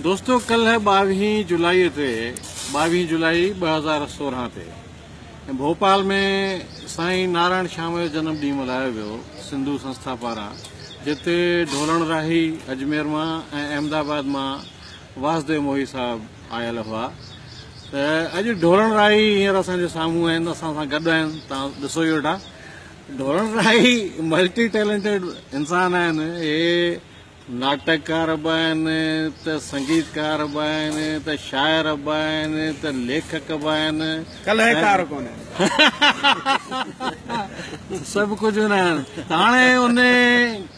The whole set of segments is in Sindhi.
دوستو ڪلهه ٻاويهين جولائي تي ٻاويهين جولائي ٻه هزار سورهن تي ڀوپال ۾ سائين نارائڻ شام جو جنم ڏينهن ملهايو ويو سنڌو سنسٿا پاران جتي ڍولڻ راهي اجمير مان ۽ احمد آباد مان واسديو موهي صاحب آيل هئا ته اڄ ڍولڻ راهي هينئر اسان جي سامهون آهن اسان سان گڏ آهن تان ڏسو ئي ويٺا ڍولڻ راهي ملٽي ٽيلنٽيڊ انسان آهن هي ناٽڪڪار به آهن ته سنگيتڪار به آهن ته شاعر به آهن ته ليکڪ به آهن ڪلهيڪار ڪونه آهن سڀ ڪجهه هوندا آهن ته هاڻي ان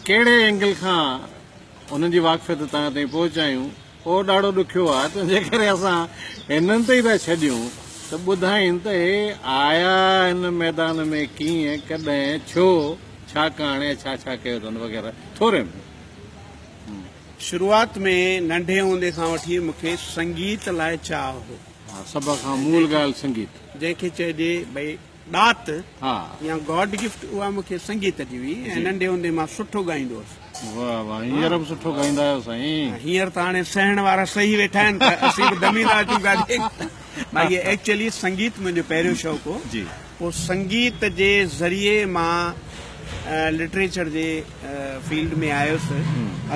ڪهڙي اينگل کان انهن جي واقفيت تان تائين پهچايون اهو ڏاڍو ڏکيو آهي ته جيڪڏهن اسان هنن تي ئي ٿا ڇڏيون ته ٻڌائين ته هي آيا هن ميدان ۾ ڪيئن، ڪڏهن، ڇو، ڇاڪاڻ ۽ ڇا ڇا ڪيو اٿن وغيره ٿوري ۾. شروعات ۾ ننڍي هوندي کان وٺي مون کي سنگيت لاء چاهه هو. ها سڀ کان مول ڳالهه سنگيت. جنهن کي چئجي ڀئي. ڏات يا گاڊ گفٽ اها مون کي سنگيت جي هئي ۽ ننڍي هوندي مان سٺو ڳائيندو هوس. واه واه هينئر به سٺو ڳائيندا آهيو سائين. هينئر ته هاڻي سهڻ وارا سهي ويٺا آهن ته اسين به دمي لا جون گاڏي ڀائي ايڪچولي سنگيت منهنجو پهريون شوق هو پوء سنگيت جي ذريعي مان لٽريچر جي فيلڊ ۾ آيس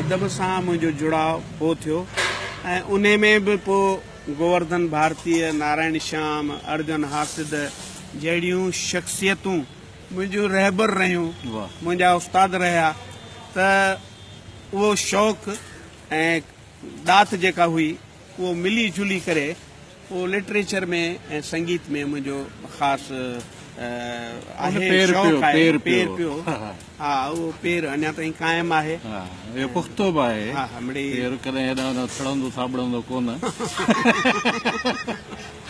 ادب سان منهنجو جڙاء پوء ٿيو ۽ انهي ۾ به پوء گوورڌن ڀارتيء، نارائڻ شيام، ارجن هاسد جهڙيون شخصيتون منهنجيون رهبر رهيون، منهنجا استاد رهيا ته اهو شوق ۽ ڏات جيڪا هئي اهو ملي جلي ڪري اهو لٽريچر ۾ ۽ سنگيت ۾ منهنجو خاص آهي شوق آهي پير پيو. ها اهو پير اڃا تائين قائم آهي. ها اهو پختو به آهي. ها ها مڙئي. پير ڪڏهن هيڏانهن هوڏانهن ٿڙندو ٿاٻڙندو ڪونه.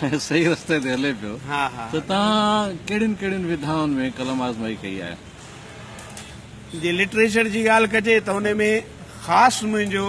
۽ صحيح رستي تي هلي پيو. ها ها. ته توهان ڪهڙين ڪهڙين وڌائن ۾ قلم آزمائي ڪئي آهي؟ جي لٽريچر جي ڳالهه ڪجي ته ان ۾ خاص منهنجو.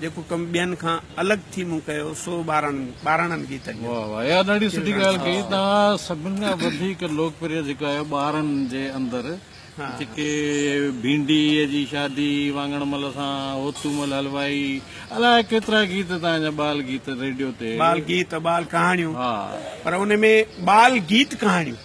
جيڪو ڪم ٻين کان الڳ ٿي مون ڪيو سو ٻاراڻن ٻاراڻن گيتن جو واھ واھ اها ڏاڍي سٺي ڳالهه ڪئي توهان سڀن کان وڌيڪ لوڪپريه جيڪو آهي ٻارن جي اندر جيڪي ڀينڊي جي شادي واڱڻ مل سان هوتو مل حلوائي الائي ڪيترا گيت توهان جا ٻال گيت ريڊيو تي ٻال گيت ٻال ڪهاڻيون ها پر ان ۾ ٻال گيت ڪهاڻيون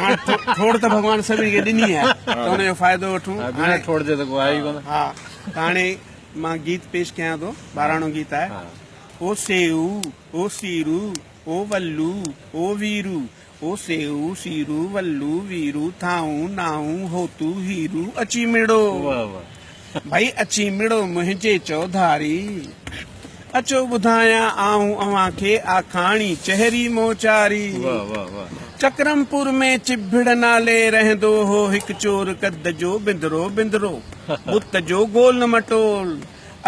هاڻي ٺوڙهه ته ڀڳوان سڀني کي ڏني آهي ته ان جو فائدو وٺون. بنا ٺوڙهه جي ته ڪو آهي ئي ڪونه. ها ته هاڻي مان گيت پيش ڪيان ٿو ٻاراڻو گيت آهي. او سيئو او سيرو او ولو او ويرو او سيئو سيرو ولو ويرو ٿانء نانء هوتو هيرو اچي مڙو. ڀئي اچي مڙو منهنجي چوڌاري. اچو ٻڌايان آئون اوهان کي آ ڪھاڻي چهري موچاري. چڪرمپور ۾ چڀڙ نالي رهندو هو هڪ چور قد جو بندرو بندرو بت جو گول مٽول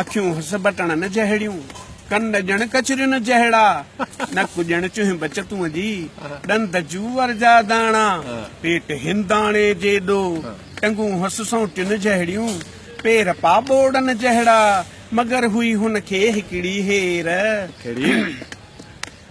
اکيون هس بٽڻن جهڙيون ڪن ڄڻ ڪچرين جهڙا نڪ ڄڻ چهنب چتون جي ڏند جوئر جا داڻا پيٽ هنداڻي جيڏو ٽنگون هنس سون ٽن جهڙيون، پير پاء ٻوڙن جهڙا. مگر هئي هن کي هڪڙي هير. ڪهڙي؟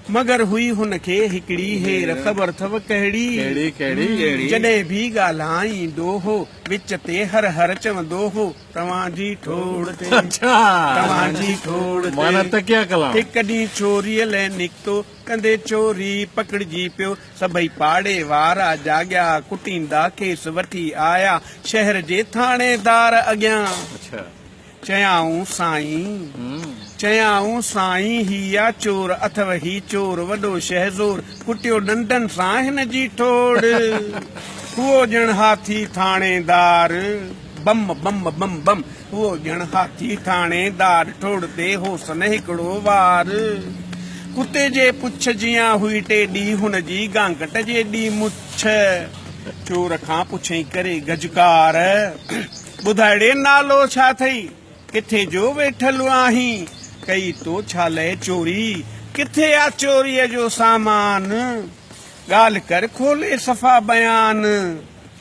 مگر هئي هن کي هڪڙي هير. خبر اٿئو ڪهڙي؟ ڪهڙي ڪهڙي؟ جڏهن به ڳالهائيندو هو، وچ تي هر هر چوندو هو، توهان جي ٺوڙ تي. اڇا! توهان جي ٺوڙ تي. معنيٰ تڪيا ڪلام. هڪ ڏينهن ڇوريء لئه نڪتو. ڪندي چوري پڪڙجي پيو. سڀئي پاڙي وارا جاڳيا، ڪٽيندا کيس وٺي آيا شهر جي ٿاڻيدار اڳيان. چيائون سائين! چيائون سائين! هي آ چور اٿئو هي چور وڏو شهزور، ڪٽيو ڏنڊن سان هن جي ٺوڙ. هئو ڄڻ هاٿي ٿاڻيدار. بم بم بم بم هو ڄڻ هاٿي ٿاڻي دار ٽوڙ تي هوس نه هڪڙو وار. ڪتي جي پڇ جيان هئي ٽيڏي هن جي گانگٽ جيڏي مڇ. چور کان پڇيائين ڪري گجڪار، ٻڌاڙي نالو ڇا ٿئي؟ ڪٿي جو ويٺل آهين؟ ڪئي تو ڇا لئه چوري؟ ڪٿي آ چوريء جو سامان؟ ڳالهه ڪر کولي صفا بيان.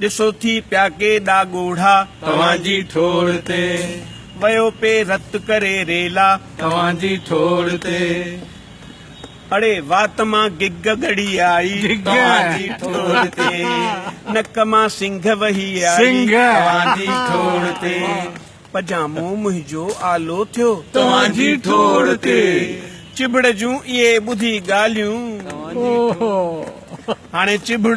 ڏسو ٿي پيا ڪيڏا ڳوڙها. توهان جي ٺوڙ تي. ويو پئي رت ڪري ريلا. توهان جي ٺوڙ تي. اڙي وات مان گگ ڳڙي آئي. توهان جي ٺوڙ تي. نڪ مان سنگهه وهي آئي. توهان جي ٺوڙ تي. پجامو منهنجو آلو ٿيو. توهان جي ٺوڙ تي. چڀڙ جون اهي ٻڌي ڳالهيون. توهان جي ٺوڙ تي. هاڻي چڀڙ.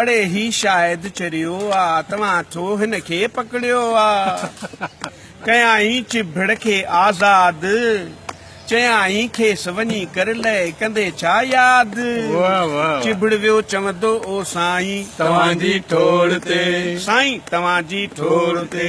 اڙي هي شايد چريو آ توهان ٿو هن کي پڪڙيو آ ڪيائين چڀڙ کي آزاد چيائين کيس وڃي ڪر لئه ڪندي ڇا ياد چڀڙ ويو چوندو او سائين توهان جي ٺوڙ تي سائين توهان جي ٺوڙ تي.